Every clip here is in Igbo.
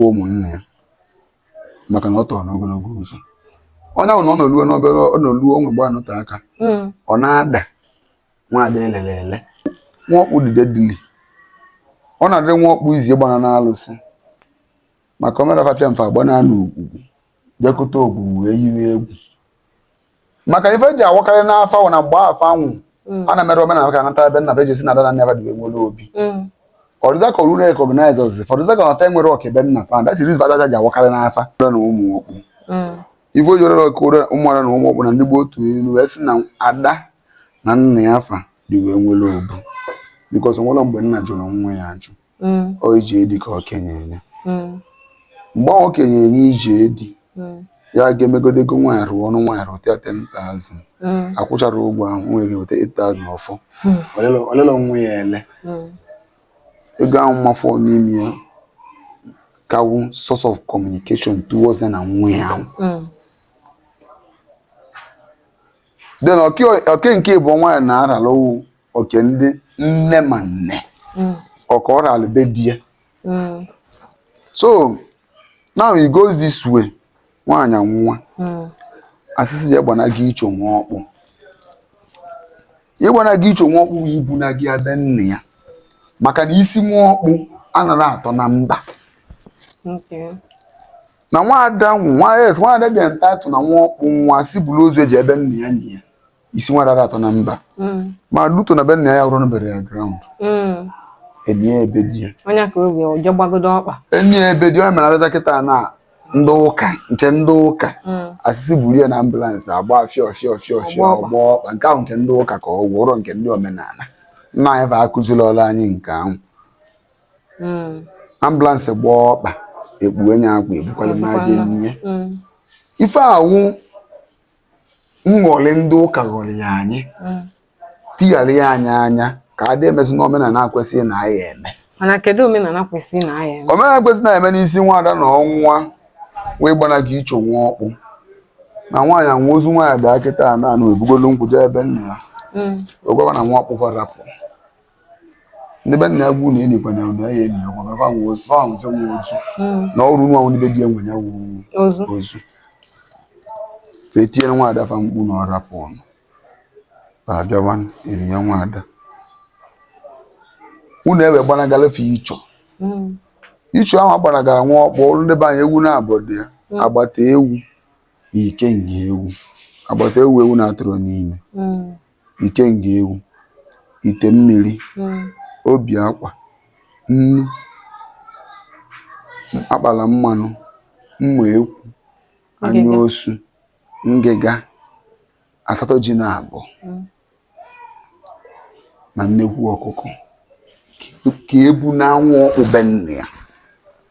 ụmụnne ya maka na ọ tọrọ n'ogologo ụzọ onye ahụ na ọ nọluo n'obere ọ nọluo onwe gba anọte aka hmm. ọ na-ada nwaada elele ele nwa ọkpụ dide dili ọ na-adịrị nwa ọkpụ izi gbara n'alụsị maka omerafapịa mfe agba na-anụ ugwu bịakọta ogwugwu wee yiwe egwu maka ife ji awakarị n'afa wụ na mgbe afa anwụ mm. a na-emere omenala ka anata ebe nna be jesi na ada na nna ya dị wee nwere obi mm. ọdịza ka oru na-recognize ọzọ fọdụza ka ọ fa nwere ọka ebe nna fa that is badaja ji awakarị n'afa na ụmụ ọkpụ mm. ife ojoro ọka ụra ụmụada na ụmụ ọkpụ na ndị gboo atụ ilu wee sị na ada na nna ya fa dị wee nwere obu because nwere mgbe nna jụrụ nwa ya ajụ mm. ọ ije di ka o kenyere mm. mgbe o kenyere ije di mm. ya ga-emegodo ego nwaanyị rụọ ọnụ nwaanyị rụta 10,000 akwụchara ụgwọ ahụ wee weta 8,000 ọ fọ o lelọ nwa ya ele ego ahụ ma fọ n'ime ya ka wụ source of communication towards na nwa ya ahụ then oke nke bụ nwaanyị na-arala wụ oke ndị nne ma nne mm. ọka ọ ralụ be di ya mm. so now it goes this way nwaanyị nwụọ mm. a sị sị je gbanaga icho nwa ọkpụ ịgbanaga icho nwa ọkpụ ibunaga ya be nne ya maka na isi nwa ọkpụ anaghị atọ na mba na nwaada nwa yes nwaada bịa ntatụ na nwa ọkpụ nwụọ sị buru ozu e jee be nna ya nyie ya isi nwaada atọ na mba mm. ma luto na be nna ya rụrụ burial ground mm. enyi ya ebe di ya onye ka obi ọjọọ gbagodo ọkpa enyi ya ebe di ya mere abịaza kịta na ndị ụka nke ndị ụka mm. a sị sị buru ya na ambulance agba fịọ fịọ fịọ fịọ ọgba ọkpa nke ahụ nke ndị ụka ka ọ gwụrụ nke ndị omenala nna anyị fa akụzirọlụ anyị nke ahụ ambulance gba ọkpa ekpuo onye akwa ebukwala maje n'ihi ife a wụ nghọri ndị ụka ghọria anyị mm. tigharịa anyị anya ka a dị emezi n'omenala kwesịrị na anyị eme mana kedu omenala kwesịrị na anyị eme omenala kwesịrị na anyị eme n'isi nwaada na ọ nwụọ wee gbanaga icho nwa ọkpụ na nwaanyị anwụ ozu nwaanyị bịa kịta na anụ ebugolu nkwụ jee be nna ya mm. agwaba na nwa ọkpụ fa arapụ ndị be nna ya agwa unu enyikwana na ya enyi ọkwa mara fa nwe ozu fa nwe fa nwe ozu na ọrụ nwa ndị be di nwe ya wụ ozu ozu fa tiere nwa ada fa mkpu na ọ rapụ unu fa abịawa eri ya nwa ada unu ewe gbanagara fa icho icho ahụ agbanagara nwa ọkpụ ọrụ ndị be anyị ewu na-abọ dị ya agbata ewu na ike nga ewu agbata ewu ewu na atụrụ n'ime ikenga ewu ite mmiri hmm. obi akwa nnu akpala mmanụ mma ekwu anya osu ngịga asatọ ji na abụọ hmm. na nnekwu ọkụkọ ka ebuna nwa ọkpụ be nna ya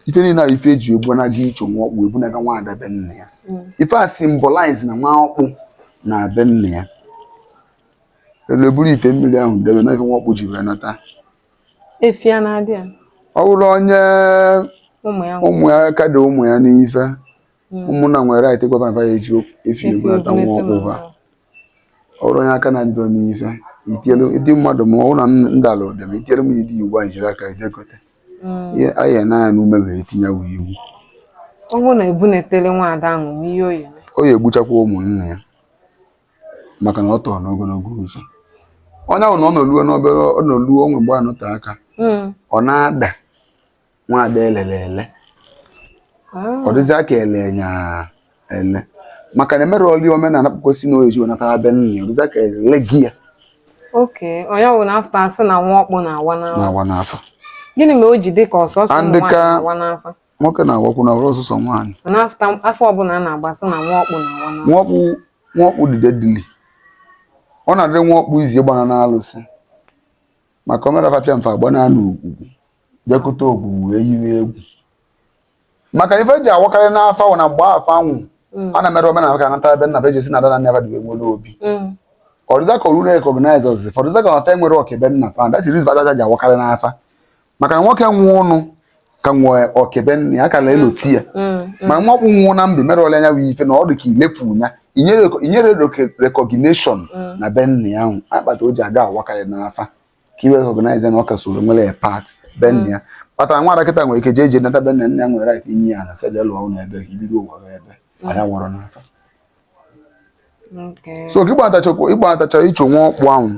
ife niile ahụ ife eji ebunaga icho nwa ọkpụ ebunaga nwa ada be nna ya hmm. ife a symbolize na nwa ọkpụ na be nna ya elu eburu ite mmiri ahụ debe na ife nwa ọkpụ ji wee nata ọ bụrụ onye ụmụ ya ka dị ụmụ ya n'ife hmm. ụmụnna nwere right ịgwa baba ya eji efi ebulata nwa ọkpụ ha ọ bụrụ onye aka na-adịrọ n'ife itielu ndị mmadụ ma ọ na ndalụ dị ma itielu m ịdị iwu anyị jiri aka idekote hmm. ihe anyị ya n'anya n'ume were tinye wụ iwu ọ bụrụ na ebunatala nwaada ahụ ma ihe oyi ọ ya-egbuchakwa ụmụnna ya maka na ọ tọrọ n'ogologo ụzọ onye ahụ na ọ nọluo n'obere ọ nọluo onwe mgbe ọ nọte aka hmm. ọ na-ada nwaada elele ele ọ dịzịa ka ele nya ele maka na emerọlị omenala kwesị na ọ ya-eji wee nata be nna ya ọ dịzịa ka ele gị ya oke onye ọbụna afa asị na nwa ọkpụ na-awa n'afa na-awa n'afa gịnị mere o ji dị ka ọ sọsọ ụmụ ndị nwaanyị ka- na-awa n'afa nwoke na-awakwu na ọ wụrọ sọsọ nwaanyị na afa afa ọbụla a na-agba sị na nwa ọkpụ na-awa n'afa nwọkpụ nwọkpụ dịde dili ọ na-adị nwọkpụ izi gbana n'alụsị maka omerafapịa mfe agbana n'ogwugwu bịakute ogwugwu wee yiwe egwu maka ife ji awakarị n'afa wụ na mgbe fa nwụ mm. a na-emere omenala ka anata ebe nna be jesi na ada na nne abadiwe nwere obi mm. ọ dịzịa ka orure recognize ọzụzụ fọdụza ka fa enwerọ oke be nna fa that reason kpatara ji awakarị n'afa maka na nwoke nwụọ ọnụ ka nwee oke be nna ya a ka na-elote ya mm, ma nwa ọkpụ nwụọ na mbi merọlịa anya wee ife na ọ dị ka ilefu ya inyere recognition na be nna ya ọ wụ ya kpata o ji aga awakarị n'afa ka e wee recognize na ọ ka soro nwere ya part be nna ya kpatara nwa ada kịta nwere ike jee jee nata be nna nna ya nwere right inye ya ana sị ya lụọ ụlọ ebe ka ibido ụwa gị ebe anya wọrọ n'afa Okay. so ka ịgbatacha ịgbatacha ịchụ nwa ọkpụ ahụ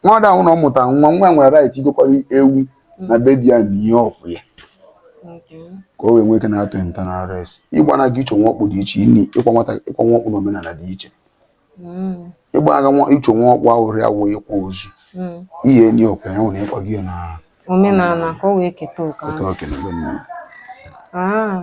nwa ada ahụ na ọ mụtara nwa nwa ya nwere right igokwara ewu na be di ya na ihe ọkwụ ya Okay. ka o wee nwee ike nata eternal rest ịgbanaga ịchụ nwa ọkpụ dị iche ịnị ịkwa nwata ịkwa nwa ọkpụ n'omenala dị iche ịgbanaga icho nwa ọkpụ ahụ rịa wụ ịkwa ozu ihe enyi okwe ya nwere ịkwa gị na omenala ka o wee keta oke ahụ. oke na be nna ya. Ah.